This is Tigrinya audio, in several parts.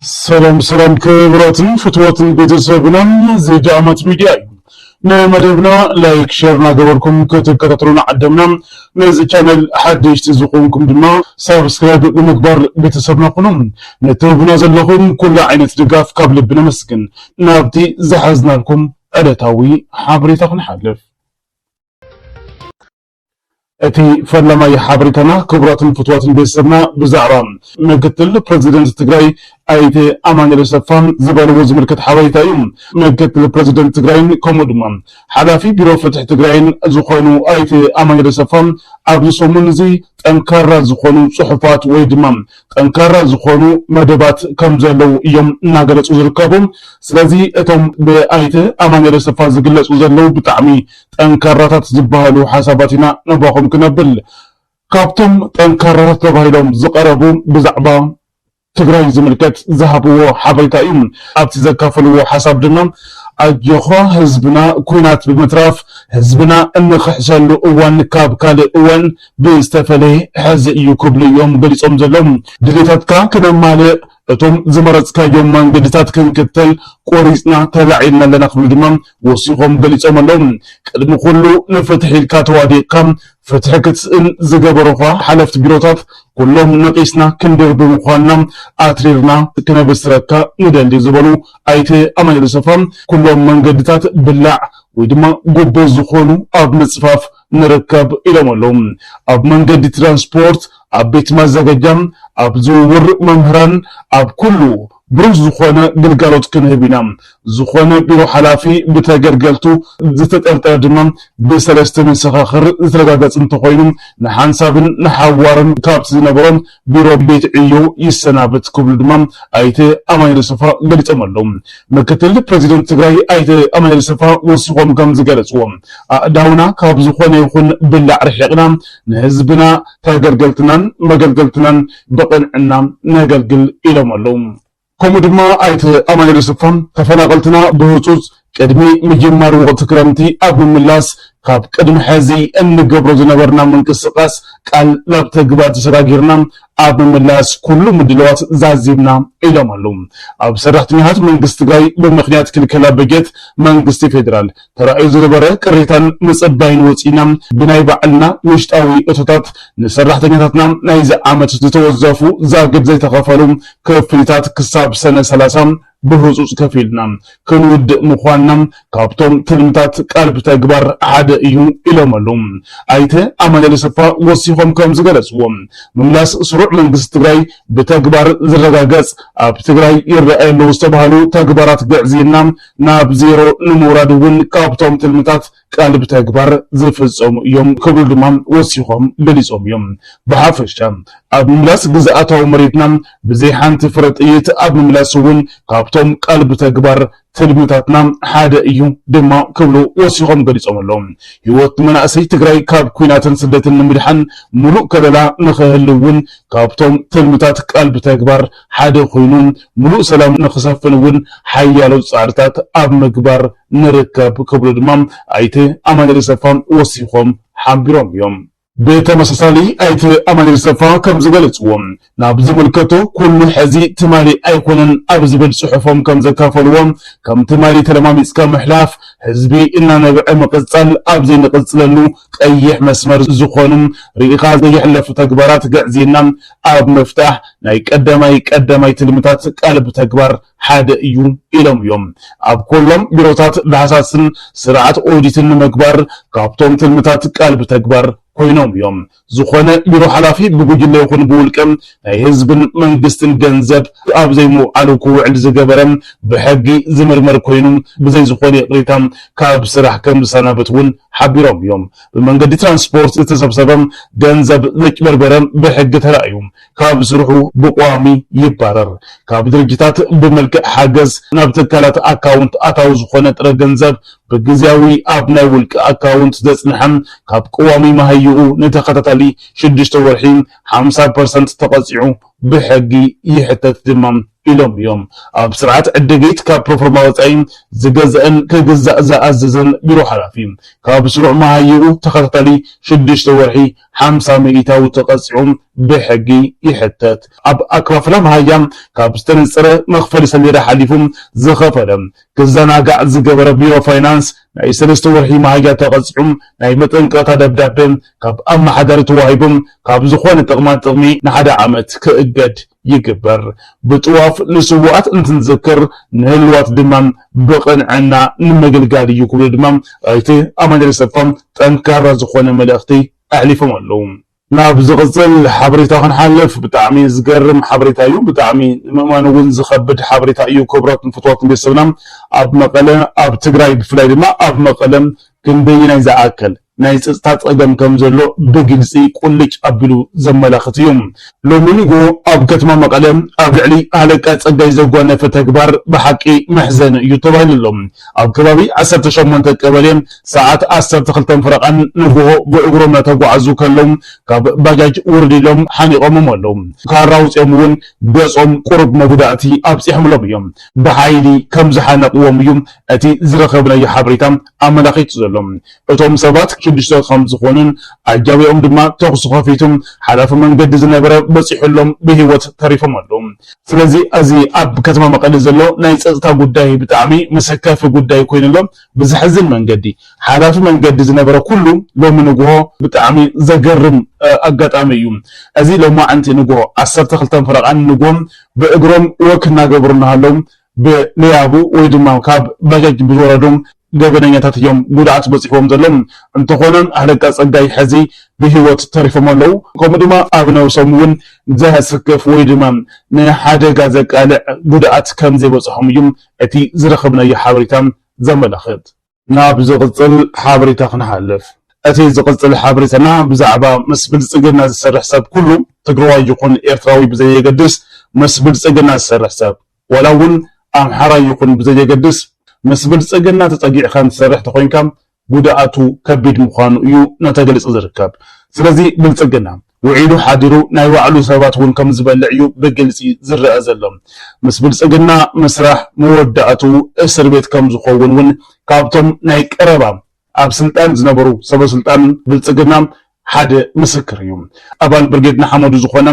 ሰላም ሰላም ክብራትን ፍትዋትን ቤተሰብናን ዘጃማት ሚዲያ እዩ ንመደብና ላይክ ሸር እናገበርኩም ክትከታተሉና ዓደምና ነዚ ቻነል ሓደሽቲ ዝኾንኩም ድማ ሳብስክራይብ ብምግባር ቤተሰብና ኩኑ ንትህቡና ዘለኹም ኩሉ ዓይነት ድጋፍ ካብ ልቢ ነመስግን ናብቲ ዝሓዝናልኩም ዕለታዊ ሓበሬታ ክንሓልፍ እቲ ፈላማይ ሓበሬታና ክቡራትን ፍትዋትን ቤተሰብና ብዛዕባ ምክትል ፕረዚደንት ትግራይ ኣይተ ኣማኒኤል ኣሰፋ ዝበልዎ ዝምልከት ሓበሬታ እዩ። ምክትል ፕረዚደንት ትግራይን ከምኡ ድማ ሓላፊ ቢሮ ፍትሒ ትግራይን ዝኾኑ ኣይተ ኣማኒኤል ኣሰፋ ኣብዚ ሰሙን እዚ ጠንካራ ዝኾኑ ፅሑፋት ወይ ድማ ጠንካራ ዝኾኑ መደባት ከም ዘለው እዮም እናገለፁ ዝርከቡ። ስለዚ እቶም ብኣይተ ኣማኒኤል ኣሰፋ ዝግለፁ ዘለው ብጣዕሚ ጠንካራታት ዝበሃሉ ሓሳባት ኢና ናባኹም ክነብል። ካብቶም ጠንካራታት ተባሂሎም ዝቐረቡ ብዛዕባ ትግራይ ዝምልከት ዝሃብዎ ሓበሬታ እዩ። ኣብቲ ዘካፈልዎ ሓሳብ ድማ ኣጆኻ ህዝብና ኲናት ብምትራፍ ህዝብና እንኽሕሰሉ እዋን ካብ ካልእ እዋን ብዝተፈለየ ሕዚ እዩ ክብሉ እዮም ገሊፆም ዘለዉ። ድሌታትካ ክነማልእ እቶም ዝመረፅካዮም መንገድታት ክንክተል ቆሪፅና ተላዒልና ኣለና ክብሉ ድማ ወሲኾም ገሊፆም ኣለው። ቅድሚ ኩሉ ንፍትሒ ኢልካ ተዋዲቕካ ፍትሒ ክትስእን ዝገበሩኻ ሓለፍቲ ቢሮታት ኩሎም ነቒስና ክንድርቢ ምዃንና ኣትሪርና ክነብስረካ ንደሊ ዝበሉ ኣይተ ኣማኑኤል ኣሰፋ፣ ኩሎም መንገድታት ብላዕ ወይ ድማ ጉቦ ዝኾኑ ኣብ ምፅፋፍ፣ ንርከብ ኢሎም ኣለው። ኣብ መንገዲ ትራንስፖርት፣ ኣብ ቤት ማዘገጃ፣ ኣብ ዝውውር መምህራን፣ ኣብ ኩሉ ብሩህ ዝኾነ ግልጋሎት ክንህብ ኢና። ዝኾነ ቢሮ ሓላፊ ብተገልገልቱ ዝተጠርጠረ ድማ ብሰለስተ መሰኻኽር ዝተረጋገፅ እንተኾይኑ ንሓንሳብን ንሓዋሩን ካብቲ ዝነበሮ ቢሮ ቤት ዕዮ ይሰናበት ክብሉ ድማ ኣይተ ኣማኒኤል ኣሰፋ ገሊፆም ኣለው። ምክትል ፕረዚደንት ትግራይ ኣይተ ኣማኒኤል ኣሰፋ ወሲኾም ከምዝገለፅዎ፣ ኣእዳውና ካብ ዝኾነ ይኹን ብላዕ ርሒቕና ንህዝብና ተገልገልትናን መገልገልትናን ብቕንዕና ነገልግል ኢሎም ኣለው። ከምኡ ድማ ኣይተ ኣማኑኤል ኣሰፋ ተፈናቐልትና ብህፁፅ ቅድሚ ምጅማር ወቕቲ ክረምቲ ኣብ ምምላስ ካብ ቅድሚ ሐዚ እንገብሮ ዝነበርና ምንቅስቓስ ቃል ናብ ተግባር ተሰጋጊርና ኣብ ምምላስ ኩሉ ምድለዋት ዛዚምና ኢሎም ኣለው። ኣብ ሰራሕተኛታት መንግስቲ ትግራይ ብምኽንያት ክልከላ በጀት መንግስቲ ፌዴራል ተራእዩ ዝነበረ ቅሬታን ምጽባይን ወጺእና ብናይ ባዕልና ውሽጣዊ እቶታት ንሰራሕተኛታትና ናይዚ ዓመት ዝተወዘፉ ዛግብ ዘይተኸፈሉ ክፍሊታት ክሳብ ሰነ ሰላሳ ብህጹጽ ከፊልና ክንውድእ ምዃንና ካብቶም ትልምታት ቃል ብተግባር ሓደ እዩ ኢሎም ኣሉ ኣይተ ኣማኑኤል ኣሰፋ ወሲኾም ከም ዝገለጽዎ ምምላስ ስሩዕ መንግስቲ ትግራይ ብተግባር ዝረጋገጽ ኣብ ትግራይ ይረኣዩ ኣለዉ ዝተባሃሉ ተግባራት ግዕዝይና ናብ ዜሮ ንምውራድ እውን ካብቶም ትልምታት ቃል ብተግባር ዝፍፀሙ እዮም ክብሉ ድማ ወሲኾም ገሊፆም እዮም። ብሓፈሻ ኣብ ምምላስ ግዝኣታዊ መሬትና ብዘይ ሓንቲ ፍረ ጥይት ኣብ ምምላስ እውን ካብቶም ቃል ብተግባር ትልምታትና ሓደ እዩ ድማ ክብሉ ወሲኾም ገሊፆም ኣለው። ህይወት መናእሰይ ትግራይ ካብ ኩናትን ስደትን ንምድሓን ሙሉእ ከለላ ንኽህልው እውን ካብቶም ትልምታት ቃል ብተግባር ሓደ ኮይኑ ሙሉእ ሰላም ንክሰፍን እውን ሓያሎ ፃዕርታት ኣብ ምግባር ንርከብ ክብሉ ድማ ኣይተ ኣማኒኤል ሰፋ ወሲኾም ሓቢሮም እዮም። ብተመሳሳሊ ኣይተ ኣማኒኤል ሰፋ ከምዝገለፅዎ ናብ ዝምልከቶ ኩሉ ሐዚ ትማሊ ኣይኮነን ኣብ ዝብል ፅሑፎም ከምዘካፈልዎ ከም ትማሊ ተለማሚፅካ ምሕላፍ ህዝቢ እናነብዐ ምቅፃል ኣብዘይንቅፅለሉ ቀይሕ መስመር ዝኾኑን ርኢኻ ዘይሕለፉ ተግባራት ግዕዝይና ኣብ ምፍታሕ ናይ ቀዳማይ ቀዳማይ ትልምታት ቃል ብተግባር ሓደ እዩ ኢሎም እዮም። ኣብ ኮሎም ቢሮታት ዳህሳስን ስርዓት ኦዲትን ንምግባር ካብቶም ትልምታት ቃል ብተግባር ኮይኖም እዮም። ዝኾነ ቢሮ ሓላፊ ብጉጅለ ይኹን ብውልቀ ናይ ህዝብን መንግስትን ገንዘብ ኣብ ዘይምውዓሉ ክውዕል ዝገበረ ብሕጊ ዝምርመር ኮይኑ ብዘይ ዝኾነ ይቕሬታ ካብ ስራሕ ከም ዝሰናበት እውን ሓቢሮም እዮም። ብመንገዲ ትራንስፖርት ዝተሰብሰበ ገንዘብ ዘጭበርበረ ብሕጊ ተራእዩ ካብ ስርሑ ብቋሚ ይባረር። ካብ ድርጅታት ብመልክዕ ሓገዝ ናብ ትካላት ኣካውንት ኣታዊ ዝኾነ ጥረ ገንዘብ ብግዝያዊ ኣብ ናይ ውልቂ ኣካውንት ዘፅንሐ ካብ ቀዋሚ መሃይኡ ንተኸታታሊ ሽዱሽተ ወርሒ ሓምሳ ፐርሰንት ተቐፂዑ ብሕጊ ይሕተት ድማ። ኢሎም እዮም ኣብ ስርዓት ዕድጊት ካብ ፕሮፎርማ ወፃኢ ዝገዝእን ክግዛእ ዝኣዝዝን ቢሮ ሓላፊ ካብ ስሩዕ መሃይኡ ተኸታታሊ ሽዱሽተ ወርሒ ሓምሳ ሚኢታዊ ተቐፂዑ ብሕጊ ይሕተት። ኣብ ኣከፋፍላ መሃያ ካብ ዝተነፀረ መኽፈሊ ሰሌዳ ሓሊፉ ዝኸፈለ ክዘናጋዕ ዝገበረ ቢሮ ፋይናንስ ናይ ሰለስተ ወርሒ መሃያ ተቐፂዑ ናይ መጠንቀቕታ ደብዳበ ካብ ኣመሓዳሪ ተዋሂቡ ካብ ዝኾነ ጥቕማ ጥቕሚ ንሓደ ዓመት ክእገድ ይግበር። ብጥዋፍ ንስውኣት እንትንዝክር ንህልዋት ድማ ብቕንዕና ንምግልጋል እዩ ክብሉ ድማ ኣይተ ኣማኒኤል ኣሰፋ ጠንካራ ዝኾነ መልእኽቲ ኣሕሊፎም ኣለው። ናብ ዝቕፅል ሓበሬታ ክንሓልፍ ብጣዕሚ ዝገርም ሓበሬታ እዩ ብጣዕሚ ንምእማን እውን ዝኸብድ ሓበሬታ እዩ ክብራትን ፍትዋትን ቤተሰብና ኣብ መቐለ ኣብ ትግራይ ብፍላይ ድማ ኣብ መቐለ ክንደየናይ ዝኣከል ናይ ጸጥታ ጸገም ከም ዘሎ ብግልጺ ቁልጭ ኣቢሉ ዘመላኽት እዩ። ሎሚ ንግሆ ኣብ ከተማ መቐለ ኣብ ልዕሊ ሃለቃ ጸጋይ ዘጓነፈ ተግባር ብሓቂ መሕዘኒ እዩ ተባሂሉ ኣሎ። ኣብ ከባቢ ዓሰርተ ሸሞንተ ቀበሌ ሰዓት ዓሰርተ ክልተን ፈረቓን ንግሆ ብእግሮም እናተጓዓዙ ከለው ካብ ባጃጅ ውርድ ኢሎም ሓኒቖሞም ኣለው። ካራ ኣውጺኦም እውን ገጾም ቁሩብ መጉዳእቲ ኣብጺሖምሎም እዮም። ብሓይሊ ከም ዝሓነቕዎም እዩ እቲ ዝረኸብናዮ ሓበሬታ ኣመላኺቱ ዘሎ። እቶም ሰባት ሽዱሽተ ከም ዝኾኑን ኣጃቢኦም ድማ ተኹሲ ከፊቱ ሓላፊ መንገዲ ዝነበረ በፂሑሎም ብሂወት ተሪፎም ኣለው። ስለዚ ኣዚ ኣብ ከተማ መቐለ ዘሎ ናይ ፀፅታ ጉዳይ ብጣዕሚ መሰከፊ ጉዳይ ኮይኑ ኣሎ። ብዘሕዝን መንገዲ ሓላፊ መንገዲ ዝነበረ ኩሉ ሎሚ ንጉሆ ብጣዕሚ ዘገርም ኣጋጣሚ እዩ። ኣዚ ሎማዕንቲ ንጉሆ ዓሰርተ ክልተ ፈረቓ ንጉሆ ብእግሮም ወክ እናገበሩ እናሃለው ብሌያቡ ወይ ድማ ካብ ባጃጅ ብዝወረዱ ገበነኛታት እዮም ጉድኣት በፂሕዎም ዘሎ። እንተኾነ ኣለቃ ፀጋይ ሐዚ ብሂወት ተሪፎም ኣለው። ከምኡ ድማ ኣብ ነብሶም እውን ዘሰክፍ ወይ ድማ ንሓደጋ ዘቃልዕ ጉድኣት ከምዘይበፅሖም እዩ እቲ ዝረኸብናዮ ሓበሬታ ዘመላኽት። ናብ ዝቕጽል ሓበሬታ ክንሓልፍ። እቲ ዝቕጽል ሓበሬታና ብዛዕባ ምስ ብልጽግና ዝሰርሕ ሰብ ኩሉ ትግረዋይ ይኹን ኤርትራዊ ብዘየገድስ ምስ ብልጽግና ዝሰርሕ ሰብ ዋላ እውን ኣምሓራይ ይኹን ብዘየገድስ ምስ ብልጽግና ተጸጊዕኻን ትሰርሕ ተኾይንካ ጉድኣቱ ከቢድ ምዃኑ እዩ እናተገለጸ ዝርከብ። ስለዚ ብልጽግና ውዒሉ ሓዲሩ ናይ ባዕሉ ሰባት እውን ከም ዝበልዕ እዩ ብግልፂ ዝረኣ ዘሎ። ምስ ብልፅግና ምስራሕ መወዳእትኡ እስር ቤት ከም ዝኸውን እውን ካብቶም ናይ ቀረባ ኣብ ስልጣን ዝነበሩ ሰበ ስልጣን ብልፅግና ሓደ ምስክር እዩ። ኣባል ብርጌድ ንሓመዱ ዝኾነ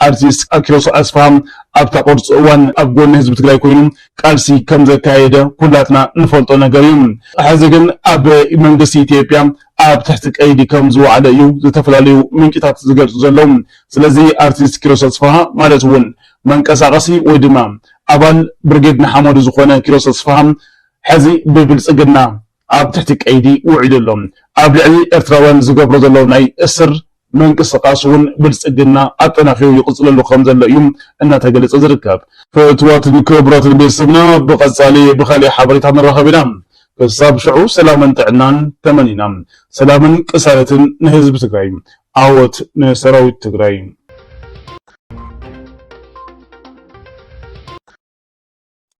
ኣርቲስት ኣኪሮስ ኣስፍሃ ኣብታ ቅርፁ እዋን ኣብ ጎኒ ህዝቢ ትግራይ ኮይኑ ቃልሲ ከም ዘካየደ ኩላትና ንፈልጦ ነገር እዩ። ሐዚ ግን ኣብ መንግስቲ ኢትዮጵያ ኣብ ትሕቲ ቀይዲ ከም ዝወዓለ እዩ ዝተፈላለዩ ምንጭታት ዝገልጹ ዘለዉ። ስለዚ ኣርቲስት ኪሮስ ኣስፍሃ ማለት እውን መንቀሳቐሲ ወይ ድማ ኣባል ብርጌድ ንሓመዱ ዝኾነ ኪሮስ ኣስፍሃ ሕዚ ብብልጽግና ኣብ ትሕቲ ቀይዲ ውዒሉ ኣሎ። ኣብ ልዕሊ ኤርትራውያን ዝገብሮ ዘሎ ናይ እስር ምንቅስቓስ እውን ብልፅግና ኣጠናኺሩ ይቕፅለሉ ከም ዘሎ እዩ እናተገለፀ ዝርከብ። ፍትዋትን ክብራትን ቤተሰብና ብቀፃሊ ብካሊእ ሓበሬታ ንራኸብ ኢና ክሳብ ሽዑ ሰላምን ጥዕናን ተመኒና ሰላምን ቅሳነትን ንህዝቢ ትግራይ ዓወት ንሰራዊት ትግራይ።